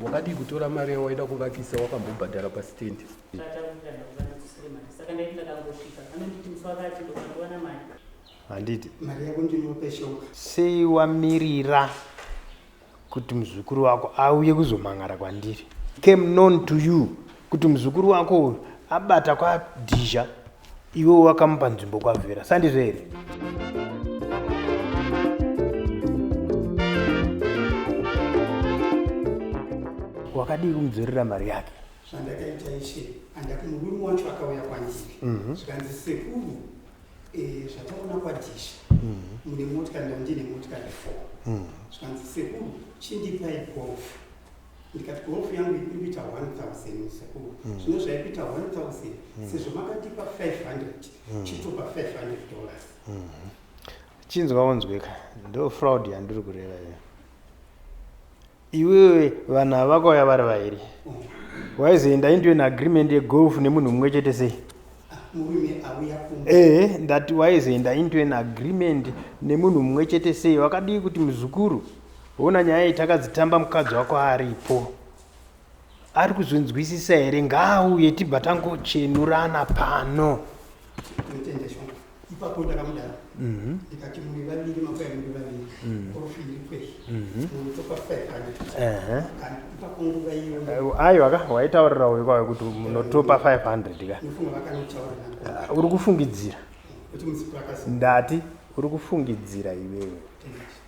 Wakadii kutora mari yawaida kuvakisa wakambobhadhara pasitendi? Handiti sei wamirira kuti muzukuru wako auye kuzomhan'ara kwandiri? Came known to you kuti muzukuru wako uyu abata kwadhizha Iwe wakamupa nzvimbo kwavhera sandizvo here? Wakadii kumudzorera mari yake? zvandakaita ishe andati murume wacho akauya kwandiri mhm. zvikanzi sekuru eh, zvataona kwadhisha mhm. mune motikari ndandine motikari four mhm. zvikanzi sekuru chindipai gofu ndikati kuhofu yangu iri kuita 1000 musekuru mm. zvino zvaikuita 1000 mm. sezvo makatipa 500 mm. chitopa 500 dollars mm -hmm. chinzwa unzweka ndo fraud yandiri kureva iyo iwewe vanhu avakauya vari vairi mm. waizoenda indiwe neagreement yegolf nemunhu mumwe chete sei ehe eh, ndati waizoenda into an agreement nemunhu mumwe chete sei wakadii kuti muzukuru Hona nyaya iyi takadzitamba mukadzi wako aripo. Ari kuzonzwisisa here ngaauye tibva tangochenurana pano. Ipapo ndakamudaro mhm. ndikati muri vaviri makwai muri vaviri mhm. korofi iri kwei mhm. munotopa five hundred ipapo nguva iyo ayo aka waitaurira uyu kwawe kuti munotopa five hundred ka ah, uri kufungidzira ndati uri kufungidzira iwewe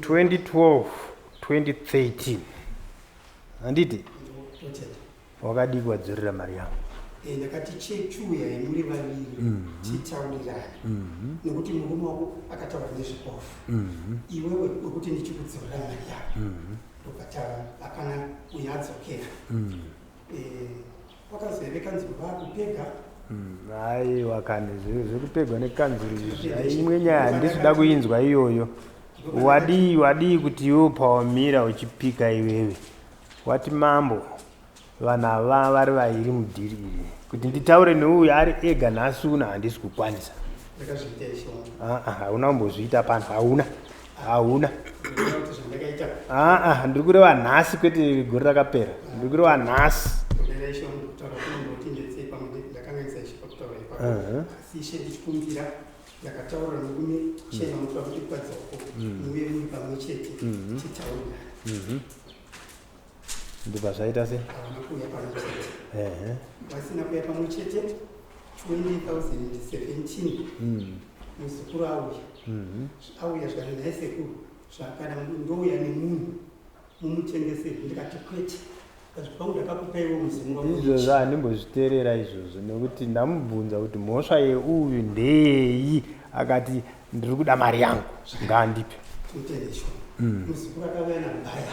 2012 2013 handiti wakadii kuwadzorera mari yavo eh, ndakati chechuya imuri vaviri mhm. titaurirane mhm. nekuti murume wako akataura nezvikofu mhm. iwewe wekuti ndichikudzorera mari yavo ndokataura akana uyadzokera eh, Kwakanzi here kanzuru vakupega? Aiwa hmm, kani zvekupegwa nekanzuru imwe nyaya handisi kuda kuinzwa iyoyo. Wadii wadii kuti iwe pawamira uchipika iwewe wati mambo vanhu ava vari vairi mudhiri iri kuti nditaure neuyu ari ega nhasi una handisi kukwanisa hauna kumbozviita pano hauna hauna aa ndiri kureva nhasi kwete gore rakapera ndiri kureva nhasi yakataura nokume chena mutoda kuti kukadzi wako muve muri pamwe chete titaurira ndibva zvaita se havana kuuya pamwe chete ehe vasina kuuya pamwe chete 2017 mm muzukuru auya mhm auya zvikati naye sekuru zvakada ndouya nemunhu mumutengeseri ndikati kwete Ndikati, kwangu ndakakupaiwo muzimu wangu izvozvo handimbozviteerera izvozvo nekuti ndamubvunza kuti mhosva yeuyu ndeyeyi akati ndiri kuda mari yangu ngaandipe mutendesho muzukuru akauya nabaya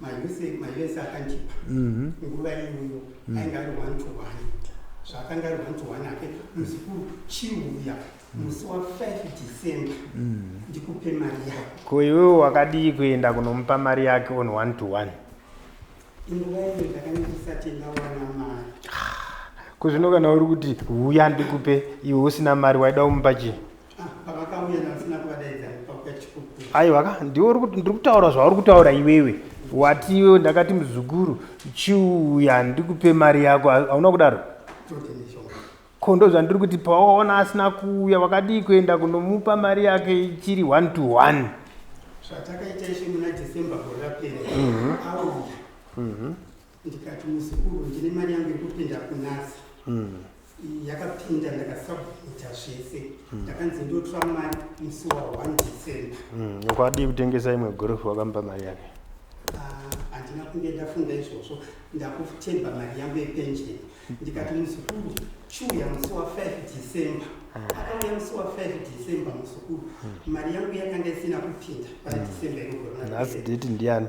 maese akandipa mhm. nguva iyoyo mhm. ainge ari one to one zvaakanga ari one to one ake muzukuru chiuya mhm. musi wa 5 december ndikupe mari yako ko iwewe wakadii kuenda kunomupa mari yake on one to one inguva iyo ndakanyandisati ndawana mari kuzvino kana uri kuti huya ndikupe iwe usina mari waida kumupa chii aiwa ka ndiwe ndiri kutaura zvauri kutaura iwewe wati iwewe ndakati muzukuru chiuya ndikupe mari yako hauna kudaro ko ndo zvandiri kuti pawaona asina kuuya wakadii kuenda kunomupa mari yake ichiri one to one zvatakaita ishe muna december gore rapera mhm. auya mhm. ndikati muzukuru ndine mari yangu yekupinda kunasi mm. yakapinda ndakasabvita zvese mm. ndakanzi mm. ndotora mari musi wa 1 december mm. ukadii kutengesa imwe gorofu wakampa mari yake ah, handina uh, kunge ndafunga izvozvo ndakutemba mari yangu yepension mm. ndikati muzukuru chuya musi wa 5 december mm. akauya musi wa 5 december muzukuru mm. mari yangu yakanga isina kupinda pa mm. december irogonhasi date ndiani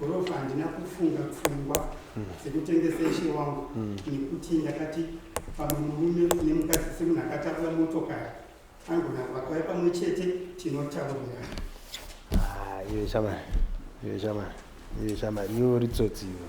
Gorofa handina kufunga pfungwa mm. dzekutengesa ishe wangu mm. nekuti ndakati pamwe murume nemukadzi semunhu akatakura motokari angona vakauya pamwe chete tinotaurirana ah, iwe shamari iwe shamari iwe shamari iwe uri tsotsi iwe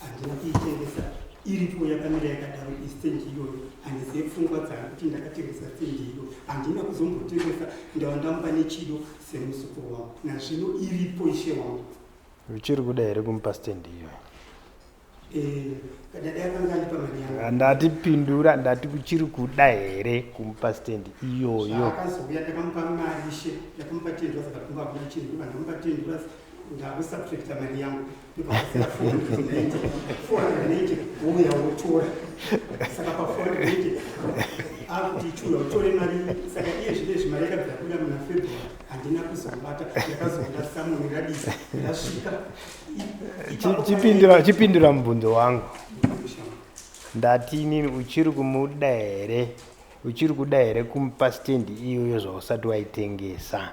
handina kuitengesa iripo yakamira yakadaro istendi iyoyo handizive pfungwa dzangu kuti ndakatengesa stendi iyo handina kuzombotengesa ndava ndamupa nechido semuzukuru wangu nazvino iripo ishe wangu uchiri kuda here kumupa stendi iyoyo eh, handati pindura ndati kuchiri kuda here kumupa stendi iyoyo akazouya ndakamupa mari ishe ndakamupa tendura saka kumba kuna chindura ndamupa tendura ndakusubtracta mari yangu chipindira mubvunzo wangu ndati inini uchiri kumuda here uchiri kuda here kumupa stendi iyoyo zvausati waitengesa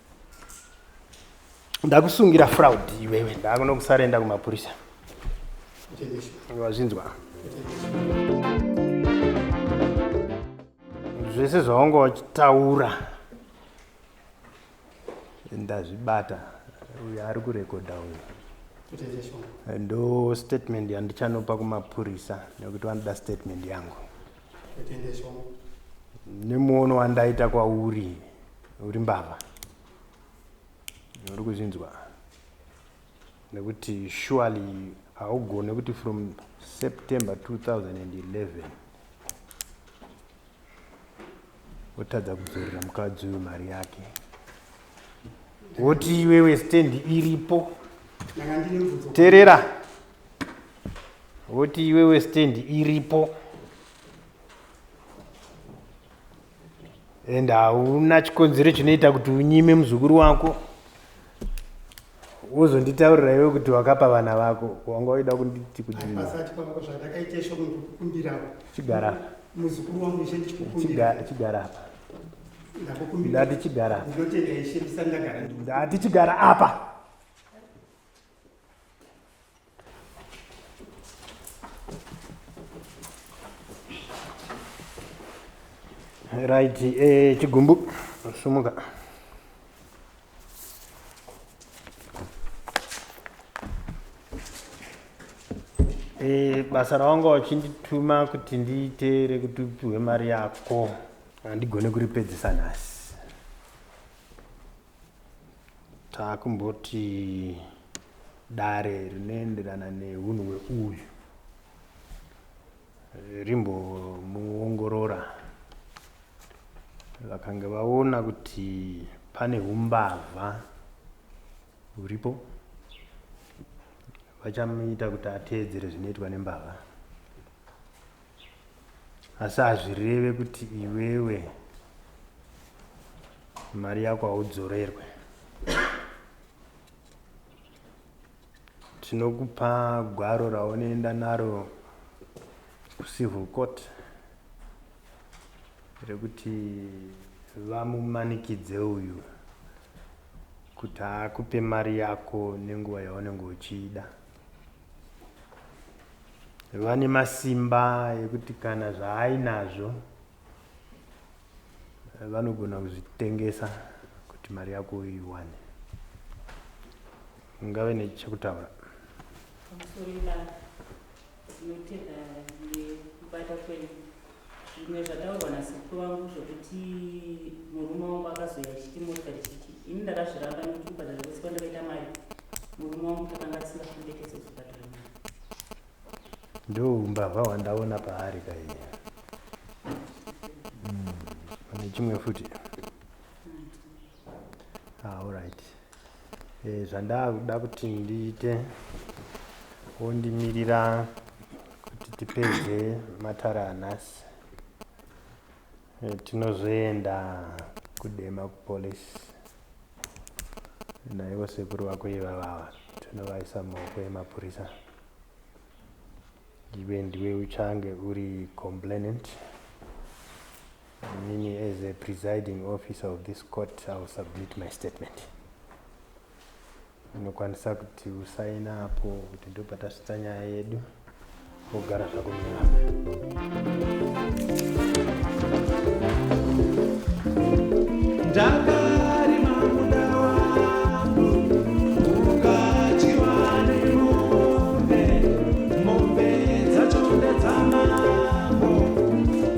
ndakusungira fraud iwewe ndakunokusara enda kumapurisa wazvinzwa zvese zvaunga wachitaura ndazvibata uyu ari kurekodha uyu ndo statement yandichanopa kumapurisa nekuti vanoda statement yangu nemuono wandaita kwauri uri mbavha uri kuzvinzwa nekuti surely haugone kuti from september 2011 wotadza kudzorera mukadzi uyu mari yake woti iwewe stendi iripo terera woti iwewe stand iripo and hauna chikonzero chinoita kuti unyime muzukuru wako wozonditaurira iwe kuti wakapa vana vako wanga waida kunditi kudiichigara chigara apa ndati chigara apa ndati chigara apa right eh, chigumbu sumuka eh, basa rawanga wachindituma kuti ndiite rekuti upiwe mari yako handigone kuripedzisa nhasi taakumboti dare rinoenderana nehunhu hweuyu rimbomuongorora vakange vaona kuti pane umbavha huripo vachamuita kuti ateedzere zvinoitwa nembavha asi hazvireve kuti iwewe mari yako haudzorerwe tinokupa gwaro raunoenda naro kucivil court rekuti vamumanikidze uyu kuti akupe mari yako nenguva yaunenge uchiida vane masimba ekuti kana zvaainazvo vanogona kuzvitengesa kuti mari yako uiwane ungave nechekutaura pamusoro ibasa tinotenda nekubata kwenyu Zvimwe zvataurwa nasekuru vangu zvekuti murume wangu akazoya achiti mota ndichiti ini ndakazviramba nekuti kubhadhara kwese kwandakaita mari murume wangu takanga tisingafundekese kuzobhadhara mari ndo umbavha hwandaona paari kaiya hmm, pane chimwe futi Ah, alright eh, zvandakuda kuti ndiite wondimirira kuti tipedze matara anhasi eh, tinozoenda kudema kupolice naivo sekuru vako ivavava tinovaisa maoko emapurisa iwe ndiwe uchange uri complainant Inini as a presiding officer of this court I will submit my statement. Unokwanisa kuti usaina apo kuti ndopatasvitsa nyaya yedu wogara zvako munyama. Daka. Thank you.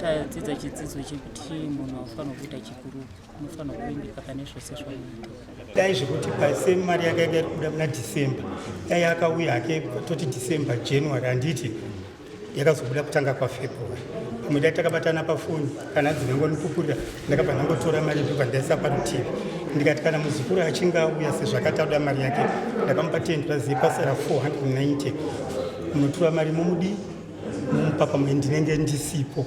tadzidza chidzidzo chekuti munhu haufanira kuita chikuru unofanira kuvimbika pane zvose zvaunoita dai zvekuti pase mari yake yake iri kubuda muna december dai akauya hake toti december january handiti yakazobuda kutanga kwafebruary pamwe dai takabatana pafoni kana dzinengoni kupurira ndakabva ndangotora mari ndobva ndaisa parutivi ndikati kana muzukuru achinge auya sezvakati auda mari yake ndakamupa ten plus yepasara 490 munotura mari momudii mumupapa mwe ndinenge ndisipo